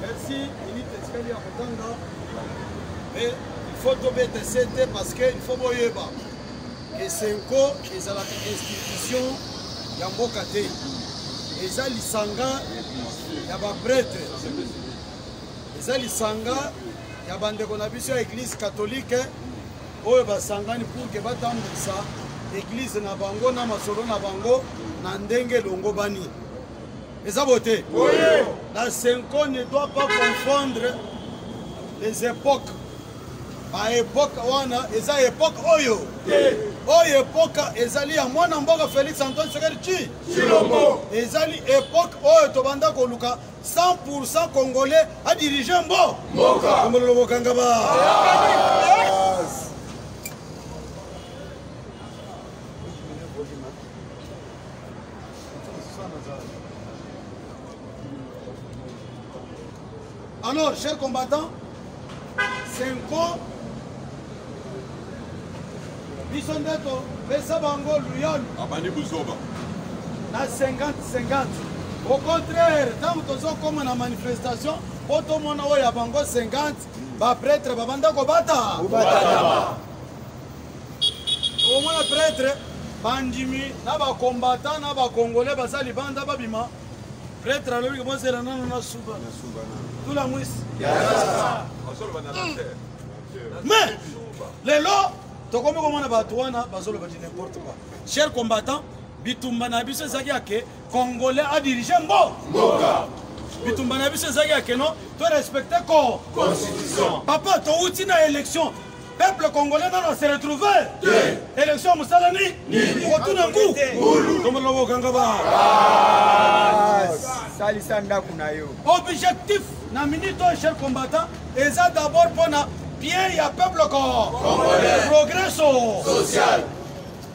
Merci, minute etikali ya kotanga. Mais il faut tobeta sete parce que il faut boyeba que Senko ezalaka institution ya mboka te. Eza lisanga ya ba prêtre. Eza lisanga ya bandeko na biso ya église catholique oyo basangani pour que batambwisa église na bango na masolo na bango na ndenge elongobani. eza bote la senko ne doit pas confondre les époques baepoke wana eza epoke oyo oyo epoke ezali ya mwana mboka félix antoine sekeli ci cilombo ezali epoke oyo tobanda koluka 100 congolais adirige mbo mbokaomololo bokanga ba Alors, chers combattants, Senko, biso nde topesa bango luyol abandi buzoba na 50-50 au contraire ntango tozokoma na manifestation mpo tomona oyo ya bango 50 bapretre babanda kobata okomona pretre bandimi na bakombata na bakongole baza libanda babima pretre alobi kobozela nano na suba tula mwisi mais lelo tokomi komona bato wana bazoloba di n'importe quoi cher combattant bitumba na biso ezalaki yake congolais adirige mbo mboka bitumba na biso ezalaki yake no torespecte ko constitution papa towuti na élection peuple congolais nano se retrouve élection mosala nini okotuna ngu tombola kokanga ba salisa ndako na yo objectif na minute oyo cher combattant eza d'abord mpona bien ya peuple congolais progresso social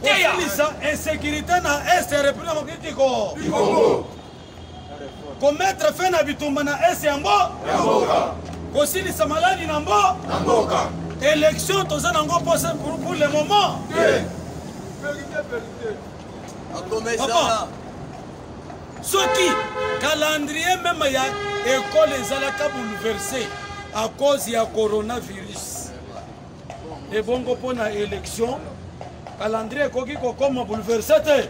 kosilisa insécurité na est ya république ya mokitiko kometre fe na bitumba na es ya mbo kosilisa maladi na mbo élection toza nango pose pour le moment papa soki calendrier meme ya ekole ezalaka bouleverse à cause ya coronavirus ebongo mpo na élection calendrier ekoki kokoma bouleverse te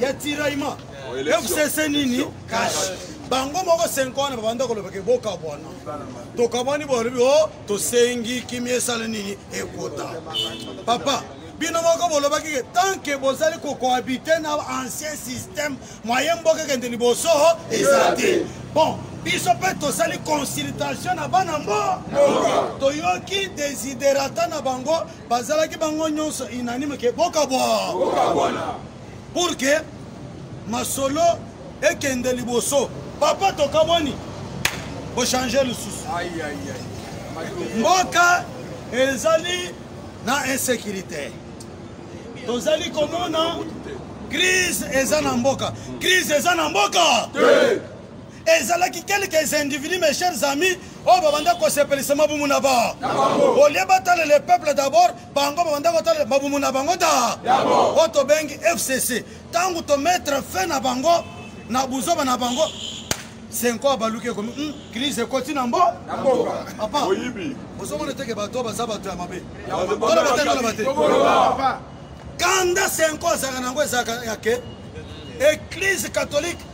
ya tiraillement fcc nini cash bango moko 5 wana babanda koloba ke bokabwana tokabwani bolobi o oh, tosengi kimia esala nini ekota papa bino moko bolobaki ke tant ke bozali kokohabite na ancien système moye mboka ekende liboso eza te bon biso mpe tosali consultation na bana mboka toyoki desiderata na bango bazalaki bango nyonso unanime ke bokabwa pour ke masolo ekende liboso papa tokabwani bochange lisusu mboka ezali na insécurité tozali komona crise eza na mboka crise eza na mboka ezalaki quelques individus mes chers amis oyo babanda kosepelisa mabumu na ba olie batala le peuple d'abord bango babanda kotala mabumu na bango da oyo tobengi fcc ntango tomettre fin na bango na buzoba na bango senko abaluki ekomi hmm, crise ekoti na mbo papa ozomona teke bato baza bato ya mabe toloba te toloba te kanda senko azalaka na yango ezalaka yake eglise catholique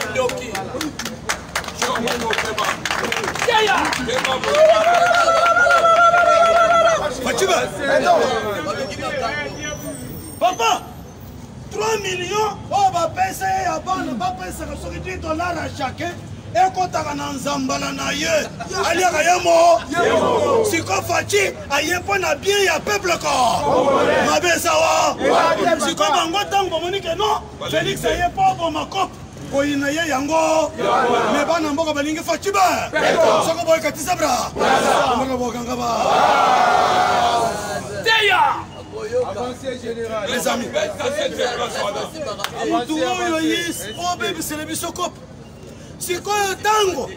Andoki. Jomo Keba. Yaya. Keba. Fatima. Papa. 3 millions oyo bapesa ye ya bana bapesaka soki 10 dollar ya chacun ekotaka na nzambala na ye aliaka ye moko siko faci aye mpo na bien ya peuple ko mabe ezawa siko bango ntango bamoni ke non Felix aye mpo oboma cop koyina ye yango me bana mboka balingi facibe soko boye katisa bra mboka bokanga ba teya les amis mutu oyo yis obebisele biso kope sikoyo tango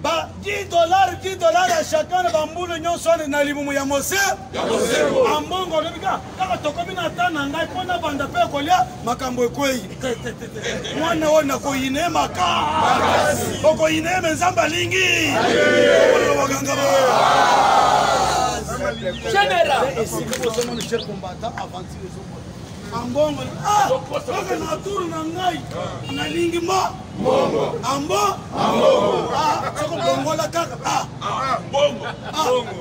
ba 10 dollars 10 dollars ya chacun na bambulu nyonso wana na libumu ya mose ambongo olobi ka kaka tokomi na ta na ngai mpo nabanda mpe kolia makambo ekwei mwana oyo nakoyine maka okoyine ye me nzambe alingi baganga ba ambongo ah, oke na turu na ngai nalingi mo ambo ah, soko bongola kaka ah.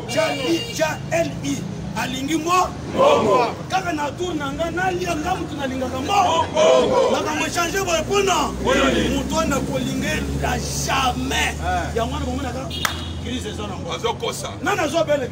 jali alingi mo kaka na tour na ngai nalia nga motu nalingaka mo makambo echange boye mpona moto wana kolingela jamais eh. yango wana bomonaka crise eza nango nani azwa bele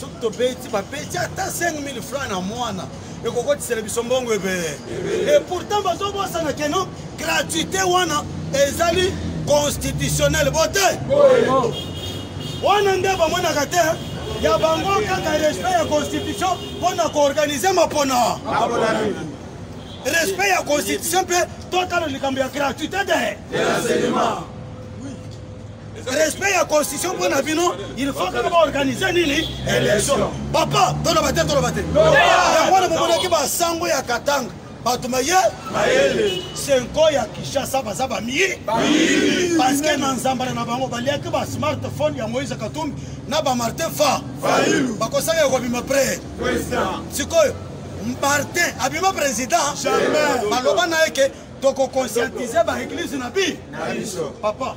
soki tobeti babeti ata 5000 franc na mwana ekokotisela biso mbongo ebele e pourtant bazobosana keno gratuité wana ezali constitutionnel bote wana nde bamonaka te ya bango kaka respect ya constitution mpo na koorganize mapona respect ya constitution mpe totala likambo ya gratuité de respect ya constitution mpo na bino il faut kaka baorganize nini élection papa toloba te toloba te yango wana bomonaki basango ya katanga bato maye senko ya kinshasa baza bamiyi parceke na nzambala na bango baliaki ba smartphone ya moïse katumbi na bamartin fa bakosaka ya kobima pre sikoyo martin abima président baloba na ye ke tokokonscientise baeglise na bi papa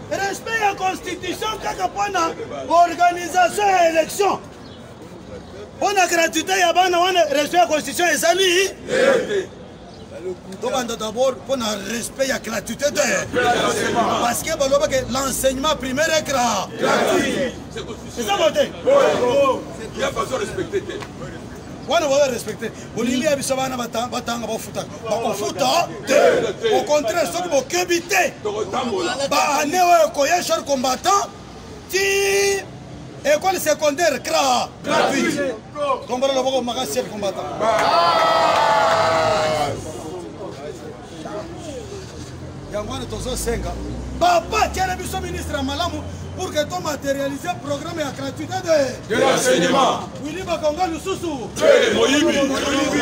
respect ya constitution kaka mpo na organisation ya élection mpo na gratuité ya bana wana respect ya constitution ezali tobanda d'abord mpo na respect ya gratuité te parce que baloba ke l'enseignement primaire est gra eza bote wana boyo respecte bolingi ya biso bana batanga bafutaka bakofuta te au contraire soki bokebi te baane oyo ekoya char combattant ti école secondaire cra gratuit tombola loboko makasi char combattant yango wana tozosenga papa tiele biso ministre ya malamu pour que to matérialise programme ya gratuité de l'enseignement wili bakonga lususu moyibi moyibi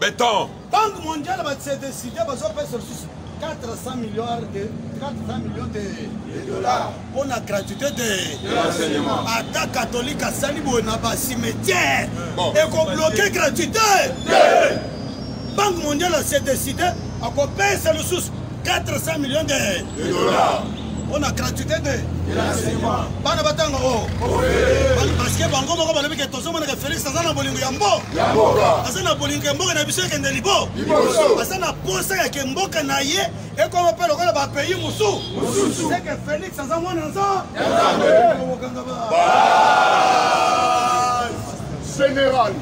beton banque mondiale batse décide bazopesa lisusu 400 milliards de 400 millions de, de dollars mpo na gratuité de l'enseignement ata catholique asali boye na bacimetière bon. ekobloke gratuité banque mondiale ase décide akopesa lisusu 400 millions de, de dollars mpo na gratuité de bana batanga o oh. parceke bango moko balobi ke tozomonaka félix aza na bolingo ya mbo aza na bolingo ya mboka na biso ekende libo aza na posa ya ke mboka na ye ekoma mpe lokola bapayi mosusu seke félix aza mwana nzo général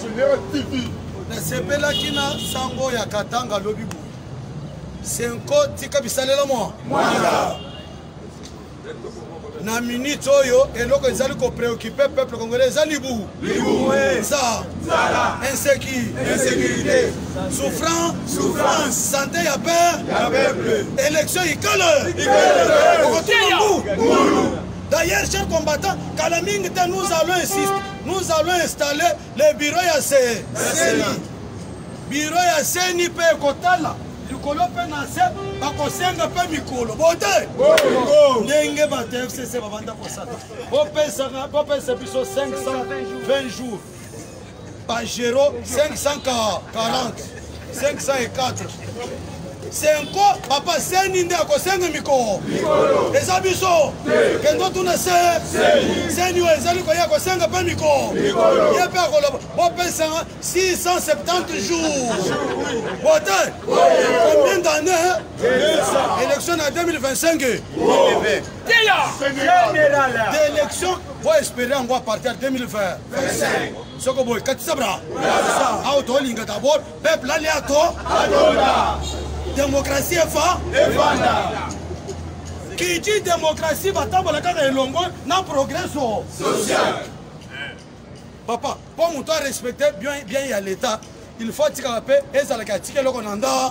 général tv nasepelaki na sango ya katanga lobi boye senko tika bisalela mwa mwanga na minute oyo eloko ezali kopreocupe peuple congolais eza libu nza insécurité souffrance santé ya peuple élection ikale okotumangu d'ailleurs cher combattant kala mingi te nous allons insiste nous allons installer le biro ya se biro ya seni mpe ekotala likolo mpe na se bakosenga mpe mikolo bote ndenge bato ya fcc babanda kosala bopesa biso 520 jours bagero 540 504 senko papa seni nde akosenga mikolo eza biso kende otuna se seni oyo ezali koya kosenga mpe mikolo ye mpe akoloba bopesa 670 jours bote combien d'année élection na 2025 d'élection boespere yango apartir 2020 soko boye katisa bra awa tolinga dabord peuple alia to atonda demokrasi efa efanda kiti demokrasi batambola kaka elongo na progreso social papa mpo moto arespecte bien ya leta il faut atikaka mpe ezalaka atika eloko na nda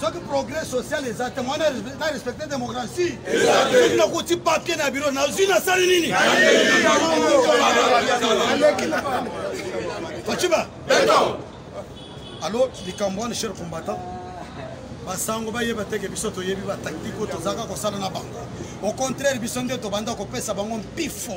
soki progrès social eza te mwana na respecte démocratie soki nakuti papier na biro nazwi nasali nini faciba alo likambo wana cher combattant basango bayeba teke biso toyebi batactique oyo tozalaka kosala na bango au contraire biso nde tobanda kopesa bango mpifo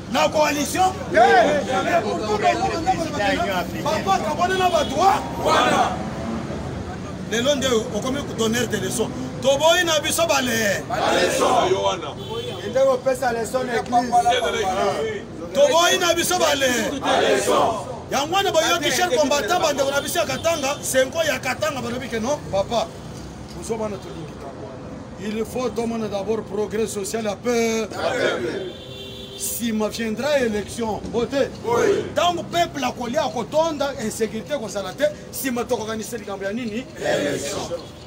na coalition bapaka wana na bato wana lelo nde okomi donner de leçon toboyi na biso balee toboyi na biso balee yango wana boyoki cher combattant bandeko na biso ya katanga senko ya katanga balobi ke non papa ozo bana tolingi il faut tomona d'abord progrès social ya peuple nsima viendra élection bote ntango peuple akolia akotonda insécurité ekozala te nsima tokokanisa likambo ya nini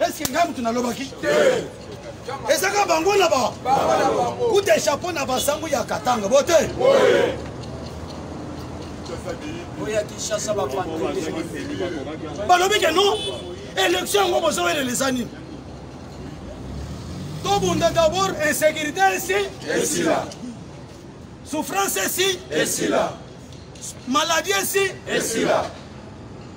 eske ngai motu nalobaki ezaka bango na ba kuta chapeau na basango ya katanga bote balobi ke non élection yango bozowelela eza nini tobunda d'abord insécurité esi esila souffrance esi esila maladie esi esila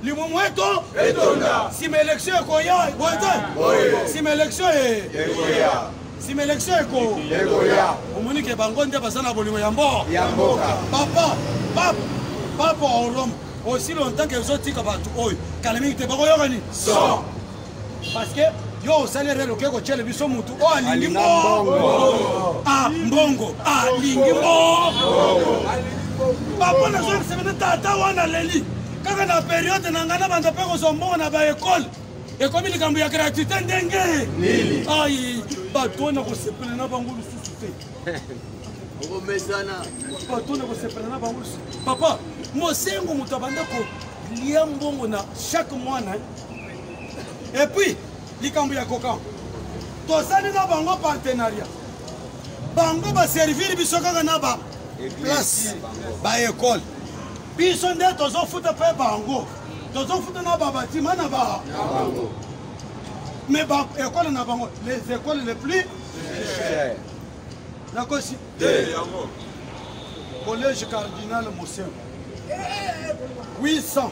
limumu eto etonda nsima élection ekoya boye te nsima élection ekoya nsima élection eko ekoya omoni ke bango nde baza na bolingo ya mboka ya mboka papa papa papa orome aussi longtemps que ezotika bato oyo kala mingi te bakoyoka nini parce que yo osali erreur oke kotyele biso motu oyo alingi mbongo ah, mbongo alingi mbongo papa nazongisa bino tata wana leli kaka na periode na ngai nabanda mpe kozwa mbongo na baekole ekomi likambo ya gratuité ndenge ai bato oyo nakosepela na bango lisusu te bato oyo nakosepela na bango lisusu papa mosengo moto abanda kolia mbongo na chaque mwana epuis likambo ya koka tosali na bango partenariat bango baserviri biso kaka na ba place baekole biso nde tozofuta mpe bango tozofuta na babatima na ba mais baekole na bango les écoles les plus chères nakosi collège cardinal mosembo 800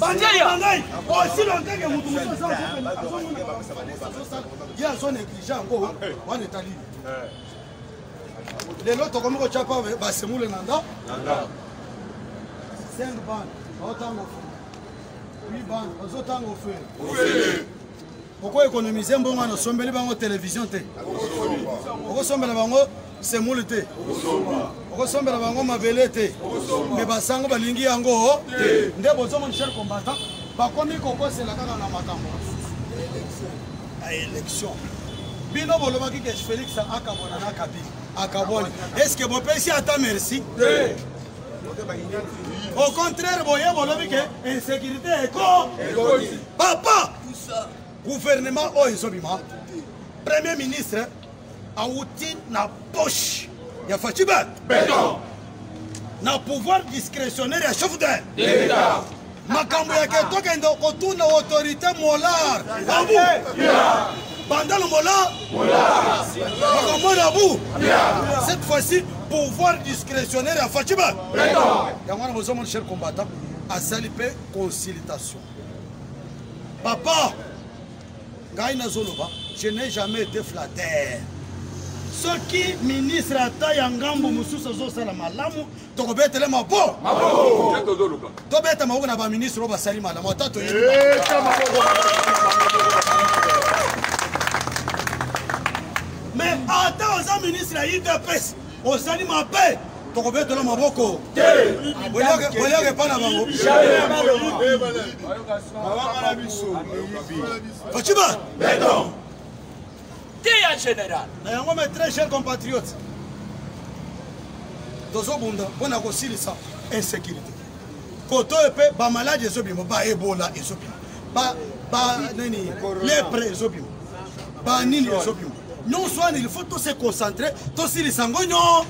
bandeko ngai aussi longtemps que moto mosusu ye azo néglige yango wana etali lelo tokomi kotya pa basemule na nda cinq bande baotanga ofele huit bande bazotanga ofele okoekonomize mbongo wana osombeli bango televizio te okosombela bango semule te okosombela bango mabele te me basango balingi yango nde bozomoni cher combattant bakomi kokosela kaka na makambo ya élection bino bolobaki ke félix akabwana na kabili akabwani estce bopesi ata merci au contraire boye bolobi ke insécurité eko papa gouvernement oyo ezobima premier ministre awuti na poche ya facibe beton na pouvoir discrétionnaire ya chef de l'etat makambo ya ketokende kotuna autorité molar babu bandalo mola bakomona bu cette fois-ci pouvoir discrétionnaire ya facibe yango wana bozomona cher combattant asali mpe consultation papa ngai nazoloba je n'ai jamais été flatteur soki ministre ata ya ngambo mosusu azosala malamu tokobetele mabo tobeta maboko na baministre oyo basali malamu ata toyebi mais ata oza ministre ya udps ozali mabe tokobetola maboko boyaka epa na bango faciba te ya général na yango mes très cher compatriote tozobunda mpo na kosilisa insécurité koto oyo mpe bamaladi ezobima baebola ezobima banini lepre ezobima banini ezobima nyonso wana il faut tose concentre tosilisa yango nyo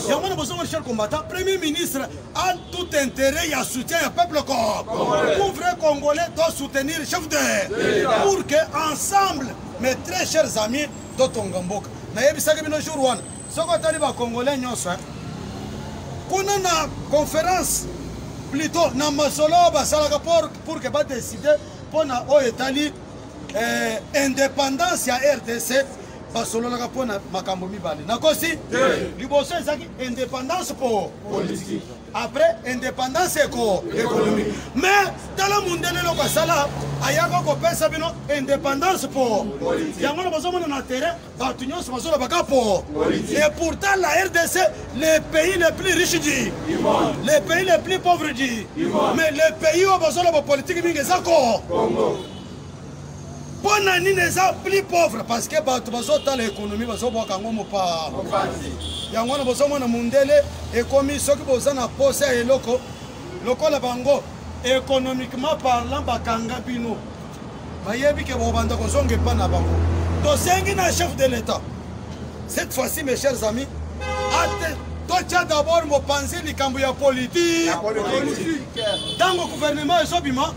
yango wana bozongo richard combattant premier ministre a tout intérêt ya soutien ya peuple cop pour vrai congolais to soutenir chef de pour que ensemble mes très chers amis totonga mboka nayebisaki bino jour wana soki otali bacongolais nyonso kuna na conférence plutôt na masolo oyo basalaka pour que badeside mpo na oyo etali eh, indépendance ya rdc basololaka mpo na makambo mibale nakosi liboso ezalaki indépendance mpo politique après indépendance eko économique mais tala mundele eloko asala ayaka kopesa bino indépendance mpo yango na bazomona na terrain bato nyonso bazolobaka mpo et pourtant la rdc le pays le plus riche du le pays le plus pauvre du mais le pays oyo bazoloba politike mingi eza ko mpo na nini eza plus pauvre parce que bato bazotala économie bazobwaka yango mopa yango wana bozomona mondele ekomi soki boza na posa ya eloko lokola bango économiquement parlant bakanga bino bayebi ke bobanda kozonga epa na bango tosengi na chef de l'état cette fois-ci mes chers amis ate totya d'abord mopanzi likambo ya politike ntango gouvernement ezobima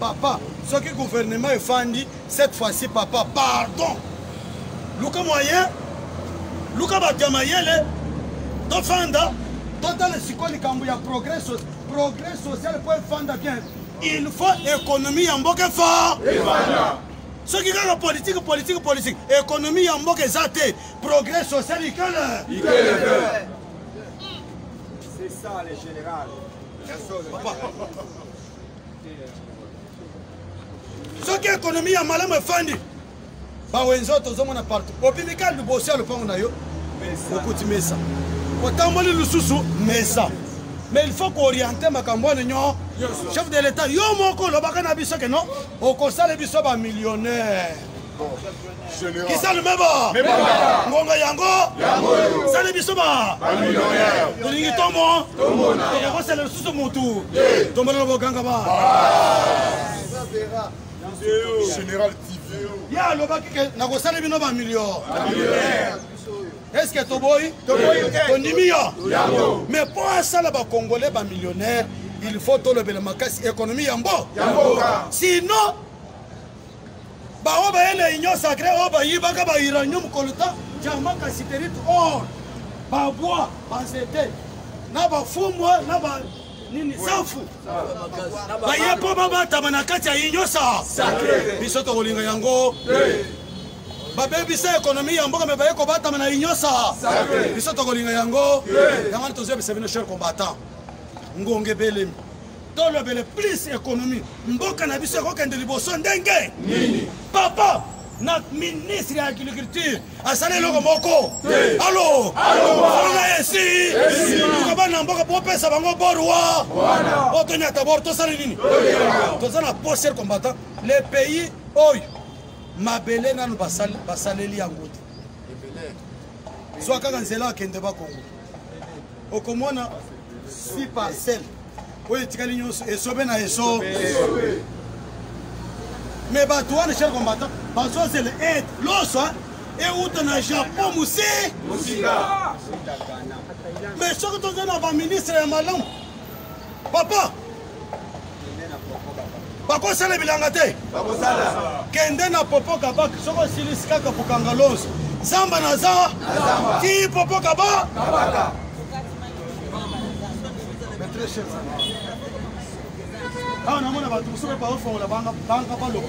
papa soki gouvernement efandi cette fois-ci papa pardon luka moyen luka bato ya mayele tofanda totala sikoyo likambo ya progrès progrès social mpo efanda bien il faut économie ya mboka efort soki kaka politike politike politike économie ya mboka eza te Progrès social Ikele. Ikele. C'est ça le général. soki ekonomi ya malamu efandi bawenzi oyo tozomona partout obimika liboso ya lopango na yo okuti mesa otamboli lisusu mesa mais il faut kooriente makambo wana nyo chef de l'état yo moko olobaka na biso ke no okosala biso bamillionnaire kisali meba ngonga yango sali biso ba tolingi tomo tokokosela lisusu motu tombolela boganga ba général tv ye alobaki ke nakosali bino bamilio estce toboyi tondimi yo mais mpo asala bacongolais bamillionnaire il faut tolobela makasi économie ya mbo sinon baoyo baye na union sacré oyo bayibaka ba uranium coltan diamant casiterite or babwa banzete na bafumwa na ba nini safu baye mpo babatama na kati ya union sa biso tokolinga yango babebisa ekonomi ya mboka me baye kobatama na union sa biso tokolinga yango yango wana tozoyebisa bino cher combattant ngonge belemi tolobele plus économie mboka na biso ekokende liboso ndenge nini papa na ministre ya agriculture asali eloko moko alo alonga esi koba na mboka popesa bango borwa o tonyata bor tosali nini toza na poster combattant le pays oyo mabele nanu basaleli yango te zwa kaka nzela akende bakongo okomona si parcelle oyo etikali nyonso esobe na eso me bato wana cher combattant bazozela aide loso euta na japon mose me soki tozali na baministre ya malamu papa bakosala bilanga te kende na popo kabak soki osilisi kaka kokanga lonso zamba na za ti popo kaba awa namona bato mosusu mpe baofongola banga baloba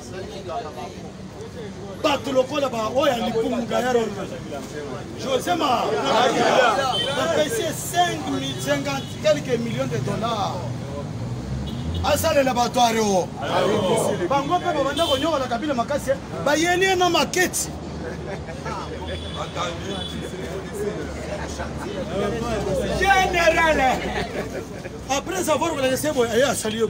bato lokola baoyo ya likumu gayaro josé ma bapesi 50 quelques millions de dollars asalela bato areo bango mpe babanda konyokola kabila makasi eh. bayeli ye na maketi général après avoir kolakisa boye aye asali yo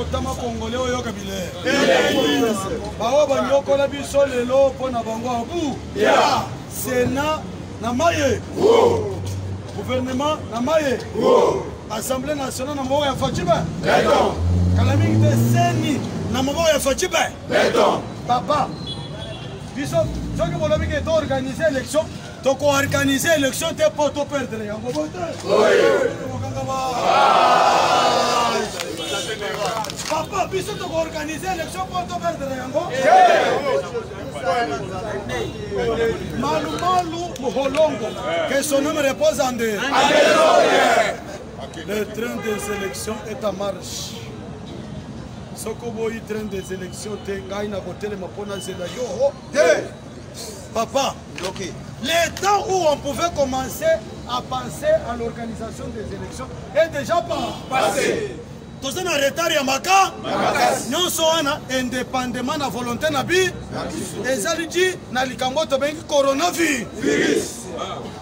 otama kongole oyoka bile baoyo banyokola biso lelo mpo na bango abu sena na maye gouvernement na maye assemblée nationale na maboko ya facibe kala mingi te seni na maboko ya facibe papa biso soki bolobi ke to organise élection toko organise élection te mpo to perdre yango bote papa biso toko organise élection mpo to perdre yango malu malu muholongo que son nom repose en de le train des élections est en marche soko boyi train des élections te ngai nakotelema mpo nazela yo Papa, okay. le temps où on pouvait commencer à penser à l'organisation des élections est déjà passé. toza na retard ya maka nyonso wana indépendamment na volonté na bi ezali ti na likambo tobengi coronavirus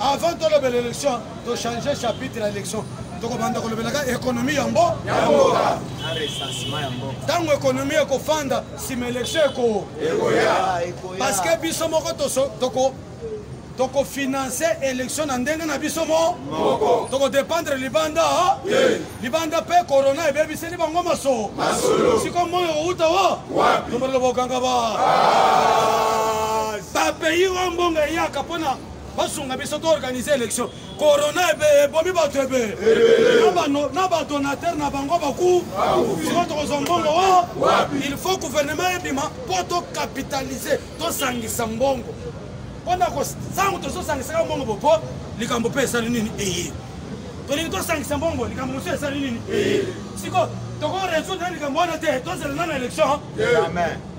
avant tolobela élection tochange chapitre ya élection tokobanda kolobelaka ekonomi ya mbo ntango ekonomi ekofanda nsima élection ekoya ah, parce que biso moko toko tokofinanse election na ndenge na biso moko tokodependre libanda libanda mpe korona ebebiseli bango maso siko moi okouta wa tobalola bokanga ba bapays oyo mbongo eyaka mpona basunga biso toorganize election korona ebe ebomi bato ebe na badonateur na bango baku siko tokozwa mbongo wa il faut gouvernement ebima mpo tokapitalize tosangisa mbongo mpona ntango tozosangisaka mbongo bopo likambo mpe esali nini eye tolingi tosangisa mbongo likambo mosusu esali nini siko tokoresoudre na likambo wana te tozela nano élection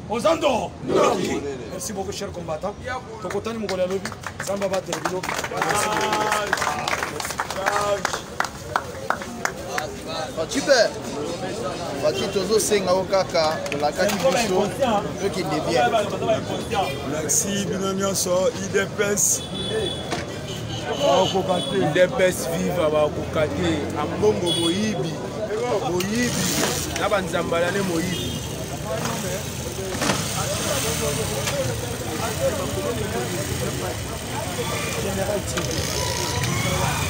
oza ndoo ndoki merci beaucoup cher combattant tokotani mokolo ya lobi nzambe abatele bino Super. baki tozosenga yo kaka olakaki biso tokende bien merci bino nyonso idps bakokoka te idps viva bakokoka te ambongo moyibi moyibi na banzambalane moyibi General TV.